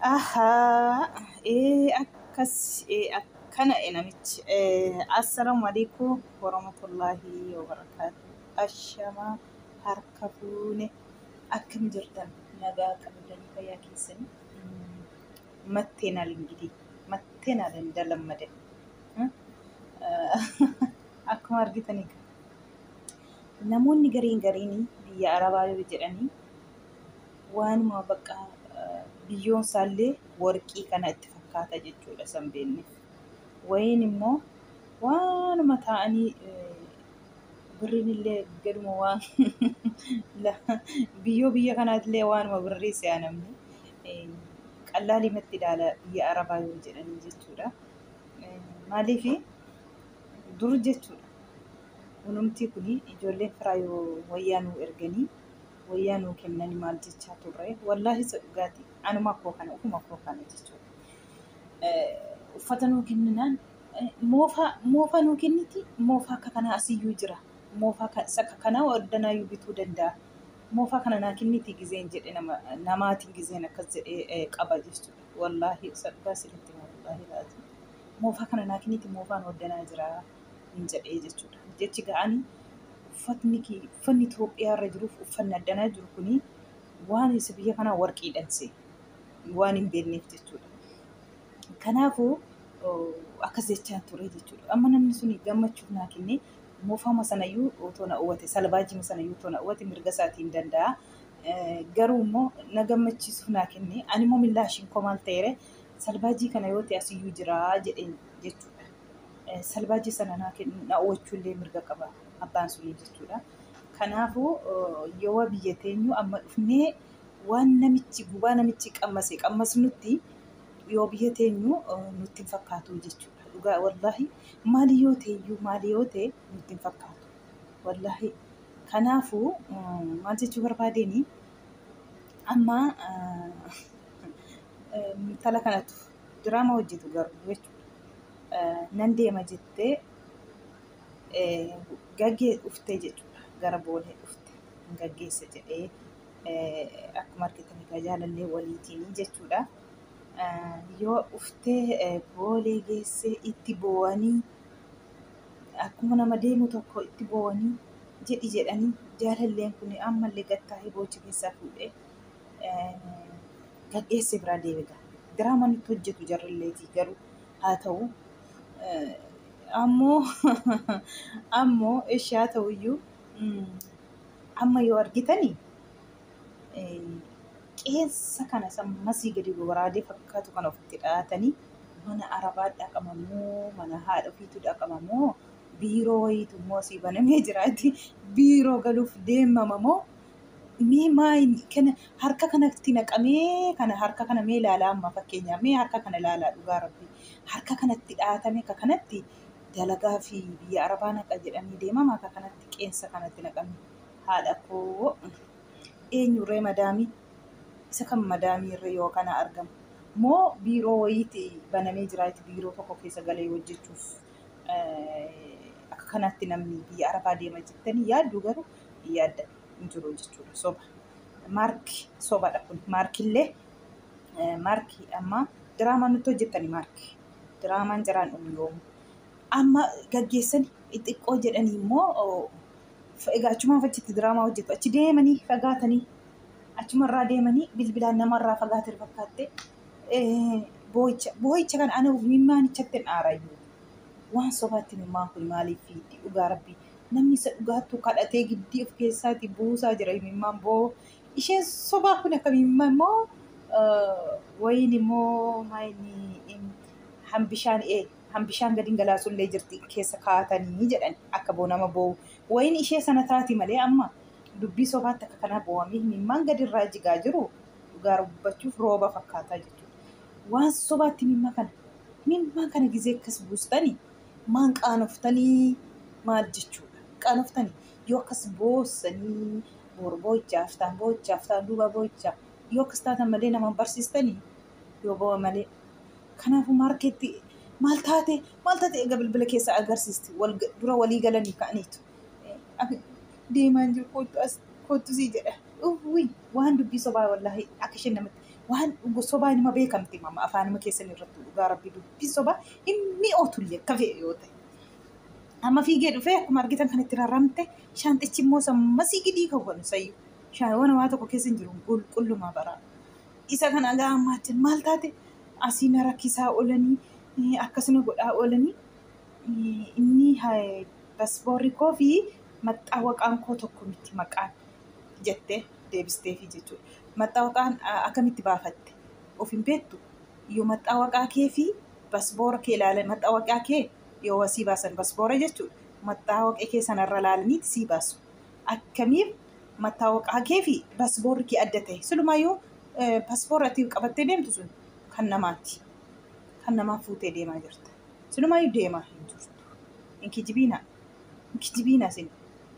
Ahaa, ee akkas, ee akkana e namichi. Eh, Assalamu alaikum warahmatullahi wabarakatuh. Ashama harka fuune akkam jirtan nagaa qabdanii fayyaa keessanii Mm, matteenaal ingitii matteenaal hin dalammadan Hmm? Ah, akkuma argitanii namoonni gariin gariin biyya arabaa yoo jedhanii waanuma bakka biyyoon isaallee warqii kana itti fakkaata jechuudha san beenne. Wayiin immoo waanuma taa'anii birriin illee gaduma waan biyyoo biyya kanaatillee waanuma birrii si'a namni qallaalimatti ilaala biyya arabaa yoo jedhanii jechuudha. Maaliif dur jechuudha. Kunumtii kun ijoolleen firaa yoo wayyaa nuu erganii wayyaa nuu kennani maal jechaa turre wallaahi isa dhugaati anuma koo kana ofuma koo kana jechuudha uffata nuu kenninaan moofaa moofaa nuu kenniti moofaa akka kanaa asiyyuu jira moofaa ka- isa ka- kanaa ordanaayyuu bituu danda'a moofaa kana naa kenniti gizeen jedhe nama namaatiin gizeen akkas jedhee eh, qaba jechuudha wallaahi isa dhugaa sirritti hima wallaahi laati moofaa kana naa kenniti moofaan ordanaa jira hin jedhee jechuudha. Jechi ga'ani uffatni uffanni Itoophiyaa irra jiruuf uffanni addanaa jiru kuni waan isa biyya kanaa warqii dhanse waan hin beekneef jechuudha. Kanaafuu akkas jechaa ture jechuudha. Amma namni suni gammachuuf naa kenne moofama sanayyuu otoo na uwwate salbaajima sanayyuu otoo na uwwate mirga isaatiin danda'a. Garuu immoo na gammachiisuuf naa kenne ani immoo millaashiin koo maal ta'eere salbaajii kana yoo ta'e asiyyuu jira jedheen jechuudha. salbaajii sana naa kennuu na oolchuu illee mirga qaba abbaan sunii jechuudha. Kanaafuu yoo biyya teenyu amma dhufnee waan namichi gubaa namichi qammase qammasnutti yoo biyya teenyu nutti hin fakkaatu jechuudha. Dhugaa wallaahi maali yoo teeyyuu maali yoo tee nutti hin fakkaatu. Wallaahi kanaafuu maal jechuu barbaadeenii amma intala kanatu diraama hojjetu garuu jechuudha. Nan deema jettee gaggee dhufte jechuudha. Gara boolee dhufte hin gaggeessa jedhee akkuma argitan egaa jaalallee waliitiin jechuudha. Yoo dhuftee boolee geessee itti boo'anii akkuma nama deemu tokko itti boo'anii jedhi jedhanii jaalalleen kun ammallee gattaa'ee boochi keessaa fuudhee gadheesse biraa deebiga. Diraamaa nutti hojjetu jarrilleetii garuu haa ta'u ammoo ammoo eshi haa ta'u iyyuu amma yoo argitani qeensa kana isa masii gadi goraadee fakkaatu kana ofitti dhahatanii mana arabaa dhaqama moo mana haadha ofiitu dhaqama moo biiroo wayiitu immoo asii banamee jiraati biiroo galuuf deemama moo Mee maal kana harka kanatti naqamee kana harka kana mee ilaalaa amma fakkeenyaaf mee harka kana ilaalaa dhugaa rabbi harka kanatti dhaatame ka kanatti dalagaa fi biyya arabaa naqa jedhanii deemama ka kanatti qeensa kanatti naqame haadha koo eenyurree madaamii isa kan madaamii irra yoo kana argamu moo biiroo wayiiti banamee jira itti biiroo tokko keessa galee hojjechuuf eh, akka kanatti namni biyya arabaa deema jettanii yaaddu garuu yaadda hin jiru jechuudha soba maarki sobadha kun maarkillee maarki amma diraamaa nutti hojjettani maarki diraamaan jiraan dhumu yoomu amma gaggeessani xiqqoo jedhanii immoo egaa achumaaf achitti diraamaa hojjetu achi deemanii fagaatanii achumarraa deemanii bilbilaan namarraa fagaatee fakkaattee boo'icha boo'icha kan ana mimmaanichatti hin aarayyuu waan sobaatti mimmaan kun maaliif fiitti dhugaa rabbii Namni isa dhugaattuu kadhatee giddii of keessaatii buusaa jira imimmaan boo isheen sobaa kun akka imimma immoo wayiin immoo maayini hambishaan ee hambishaan gadiin galaasullee jirti keessa kaatanii jedhan akka boo nama boo wayiin ishee sana taati malee amma dubbii sobaatti akka kanaa boowamii imimmaan gadirraa jigaa jiru dhugaa rubbachuuf rooba fakkaataa jechuudha waan sobaatti imimma kana imimmaan kana gizee akkas buustanii maan qaanoftanii maal jechuudha qaanoftanii yoo akkas boossanii boor boo'ichaa aftaan boo'ichaa aftaan duuba boo'ichaa yoo akkas taatan malee namaan barsiistanii yoo boo'a malee kanaafuu maarkeetti maal taate maal taate egaa bilbila keessa agarsiisti wal dura walii galanii ka'aniitu deemaan jiru koottu as koottu sii jedha uwwii waan dubbii sobaa wallaahi akka isheen namatti waan dhugu sobaa inuma beekamti mama afaanuma keessan irratti dhugaa rabbi dubbi soba hin mi'ootullee akka fe'e yoo ta'e. Amma fiigee dhufee akkuma argitan kan itti raramte shaanxichi immoo sammasii gidii kawwanu sayyu shaawana waa tokko keessa hin jiru qulqullumaa baraa. Isa kan agaa ammaa jin maal taate asii na rakkisaa oolanii eh, akkas na godhaa oolanii eh, inni eh, paspoorri koo fi maxxaawaqaan koo tokko miti maqaan jettee. deebisteefi jechuudha. Maxxawaqaan akkamitti baafatte of hin beektu yoo maxxawaqaa kee fi basboora kee ilaalan maxxawaqaa kee yoo sii baasan basboora jechuudha. Maxxawaqee kee sanarra ilaalaniiti sii baasu. Akkamiin maxxawaqaa kee fi basboorri kee adda ta'e silumayyuu basboora ati qabattee deemtu sun kan namaati. Kan namaa fuutee deemaa jirta. Silumayyuu deemaa hin jirtu. Hin kijibiinaa. Kijibiina isin.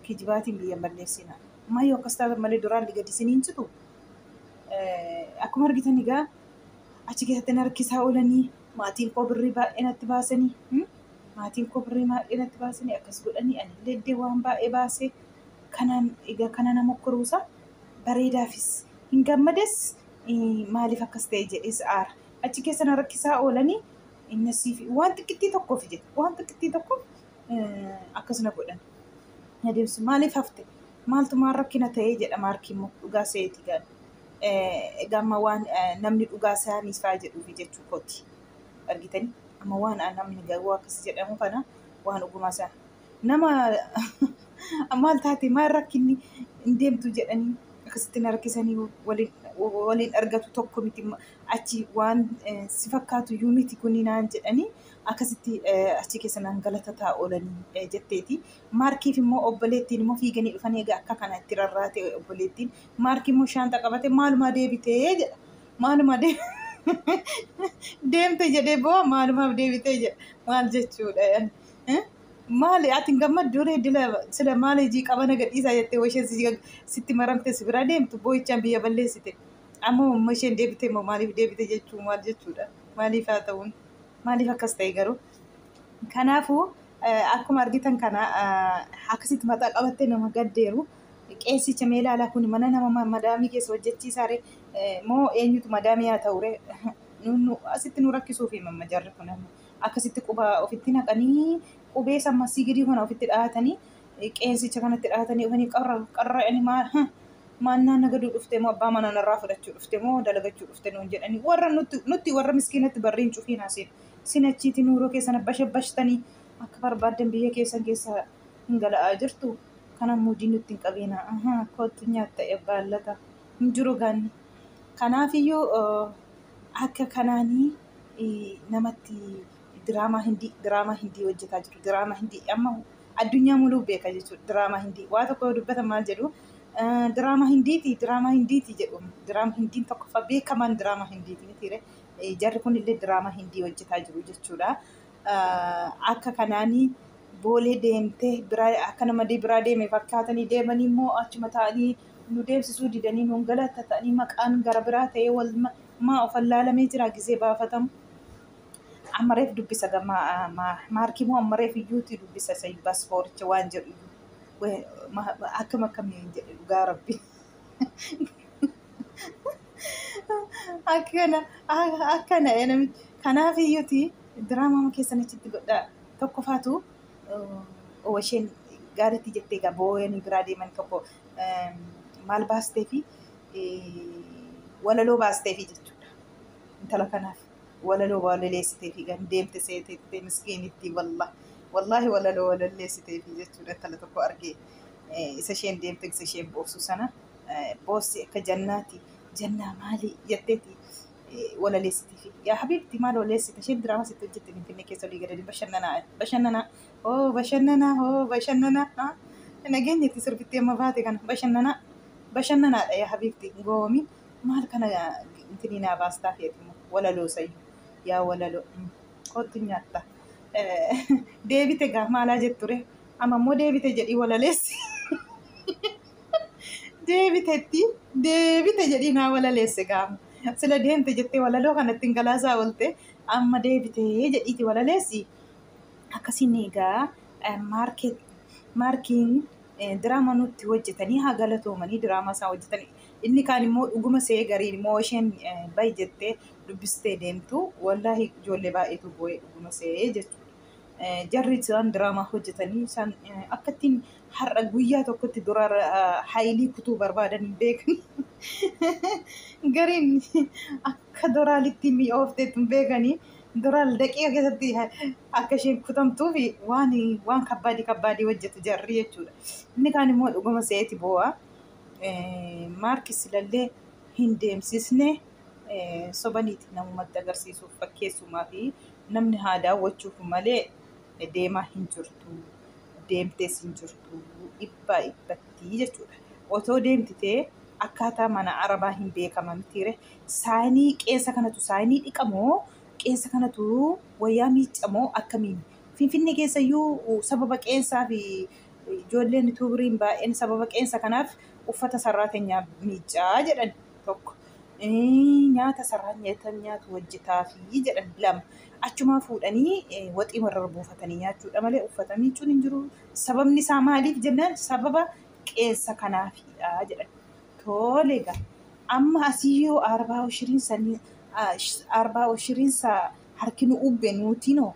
Kijibaatiin biyya hin balleessina. Maayyoo akkas taatan malee duraalli gadi isin hin citu. Akkuma argitan egaa achi keessatti na rakkisaa oolanii maatiin koo birrii baay'ee natti baasanii maatiin koo birrii baay'ee natti baasanii akkas godhanii ani illee iddee waan baay'ee baasee kanaan egaa kana nama kuruusa bareedaafis hin gammades maaliif akkas ta'e jedhees aara. Achi keessa na rakkisaa oolanii inni siif waan xiqqittii tokkoof jedhe waan xiqqittii tokko akkas na godhan. Na deebisu maaliif hafte maaltu maal rakkina ta'ee jedha maarkii immoo dhugaa seeti gaal. Egaa amma waan namni dhugaa isaanii isaa jedhuufi jechuu kooti. Argitanii amma waan namni garuu akkas jedhamu kana waan ogumaa isaa nama maal taate maal rakkinni hin deemtu jedhanii akkasitti na rakkisanii waliin waliin argatu tokko miti achi waan si fakkaatu iyyuu miti kuni naan jedhanii akkasitti achi keessa nan galatataa oolanii jetteeti. Maarkiif immoo obboleettiin immoo fiiganii dhufanii egaa akka kana itti rarraate obboleettiin. Maarkii immoo shaanxa qabate maalumaa deebitee jedha. Maalumaa deemte jedhee boo maalumaaf deebitee jedha. Maal jechuudha yaani. Maali ati hin gammaddu ree dila sila maal hojii qabana gadhiisaa jettee washeen sitti maramte si bira deemtu boo'ichaan biyya balleessite. Ammoo amma isheen deebite immoo maaliif deebite jechuu maal jechuudha. Maaliif haa ta'uun. Maaliif akkas ta'e garuu? Kanaafuu akkuma argitan kana akkasitti mataa qabattee nama gaddeeru. Qeessicha mee ilaalaa kun mana nama madaamii keessa hojjechiisaare moo eenyutu madaamii haa ta'ure asitti nu rakkisuuf himamma jarri kun akkasitti quba ofitti naqanii qubee sammasii gidii kana ofitti dhahatanii qeensicha kanatti dhaatanii ofanii qarra qarra'anii maal ha maannaa nagaduu dhufte moo abbaa manaa narraa fudhachuu dhufte moo dalagachuu dhufte nuun jedhanii warra nutti nutti warra miskiinatti barriin cufiin haaseen sin achiiti nuuroo keessana bashabbashtanii akka barbaaddan biyya keessan keessa hin gala'aa jirtu kana muudii nutti hin qabiina ahaa kottu nyaatta ebbaa lata hin jiru gaanni kanaafiyyuu akka kanaanii namatti Diraamaa hindii diraamaa hindii hojjetaa jiru diraamaa hindii amma addunyaa muluu beeka jechuudha diraamaa hindii waa tokko yoo dubbatan maal jedhu diraamaa hindiiti diraamaa hindiiti jedhu diraamaa hindiin tokkoffaa beekamaan diraamaa hindiiti mitiire jarri kun illee diraamaa hindii hojjetaa jiru jechuudha akka kanaanii boolee deemtee biraa akka namadii biraa deeme fakkaatanii deemanii immoo achuma ta'anii nu deemsisuu didanii nuun galata ta'anii maqaan gara biraa ta'ee wal maa ofallaalamee jira gizee baafatamu Amma reef dubbisa gamma maarkii moo amma reef iyyuuti dubbisa isa paaspooricha waan jedhu akkam akkamii jedhe dhugaa rabbi. Akkana akkana namichi kanaaf iyyuuti diraamaa keessan achitti godhaa tokkofaatu isheen gaariitti jettee egaa booyanii biraa deeman tokko maal baastee fi walaloo baastee fi jechuudha intala kanaaf. walaloo walaleessiteefi kan deemte seeteettee miskiinittii wallah wallaahi walaloo walalleessiteefi jechuudha intala tokko argee eh, isa isheen deemte isa isheen boossu sana eh, boossi akka jannaati jannaa maalii jetteeti eh, walaleessiteefi yaa habiibti maal waleessite isheen diraamaa sitti hojjette finfinnee keessa olii gadanii bashannanaa bashannanaa hoo bashannanaa hoo bashannanaa ah, nageenyatti sirbittee amma baate kana bashannanaa bashannanaadha yaa habiibti hin goowoomiin Maal kana intinii naa baastaa keetimoo walaloo sayyu yaa walaloo kottu nyaatta deebite gaa maalaa jetture amma immoo deebite jedhii walaleessi deebitetti deebite jedhii naa walaleesse gaa sila deemte jettee walaloo kanatti hin galaasaa oolte amma deebite jedhiiti walaleessi akkasiin egaa maarkeet maarkiin diraama nutti hojjetanii haa galatoomanii diraamaa isaa hojjetanii Inni kaan immoo dhuguma se'ee gariin immoo isheen bahi jettee dubbistee deemtu wallaahi ijoollee baay'eetu boo'ee dhuguma se'ee jechuudha. Jarri isaan diraamaa hojjetanii isaan akkattiin har'a guyyaa tokkotti dura hayilii kutuu barbaadan hin beekan. Gariin akka doraalitti mi'oofteetti hin beekanii doraal daqiiqa keessatti akka isheen kutamtuuf waan waan kabbaadii kabbaadii hojjetu jarri jechuudha. Inni kaan immoo dhuguma se'eeti boo'a. maarkis ilallee hin deemsisne sobaniiti namumatti agarsiisuuf fakkeessumaa fi namni haa daawwachuuf malee deemaa hin jirtu deemtees hin jirtu dhibbaa dhibbattii jechuudha. Otoo deemtitee akkaataa mana arabaa hin beekama mitiire saayinii qeensa kanatu saayinii dhiqamoo qeensa kanatu wayyaa miiccamoo akkamiin finfinnee keessayyuu sababa qeensaa fi Ijoolleen utuu biriin baay'een sababa qeensa kanaaf uffata sarraatenyaa miiccaa jedhan tokko. Nyaata sarraan nyaatan nyaatu hojjetaafii jedhan lama. Achumaa fuudhanii waxii marrar buufatanii nyaachuudha malee uffata miiccuun hin jiru. Sababni isaa maaliif jennaan sababa qeensa kanaafiidha jedhan. Tole egaa amma asii yoo arbaa oshiriin sanii arbaa oshiriin saa harki nu ubbe nuutinoo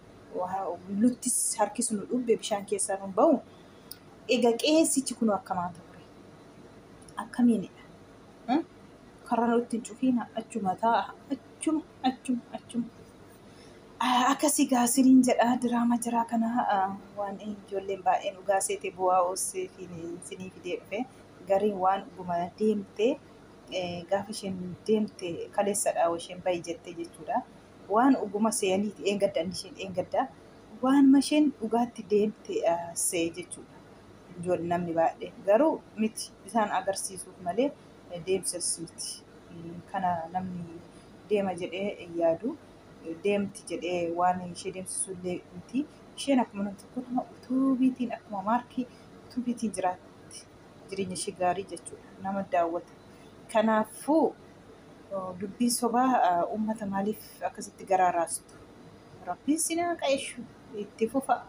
luttis harki sun dhubbe bishaan keessaa nun ba'u egaa qeessichi kun akkamaa ture akkamiinidha Hmm? karra nutti hin cufiina achuma taa'a achuma achuma achuma Ah, akkasii gaa siniin jedha diraama jiraa kana ah, waan ijoolleen baay'een dhugaa seete bu'aa oossee fi sinii fidee dhufe gariin waan dhuguma deemte eh, gaafa isheen deemte kaleessadha isheen bayi jette jechuudha. waan oguma seeyaniiti dheengadda inni isheen dheengadda waan masheen dhugaatti deemte seeyee jechuudha. Ijoon namni baay'ee garuu miti isaan agarsiisuuf malee deemsas miti. Kana namni deema jedhee yaadu deemti jedhee waan ishee deemsisu illee miti. Isheen akkuma namni tokko nama utuubiitiin akkuma maarkii utuubiitiin jiraatti jireenya ishee gaarii jechuudha. Nama daawwata. Kanaafuu Dubbii sobaa uummata maaliif akkasitti garaa raastu? Rabbiin sin haa qaeshu itti fufa.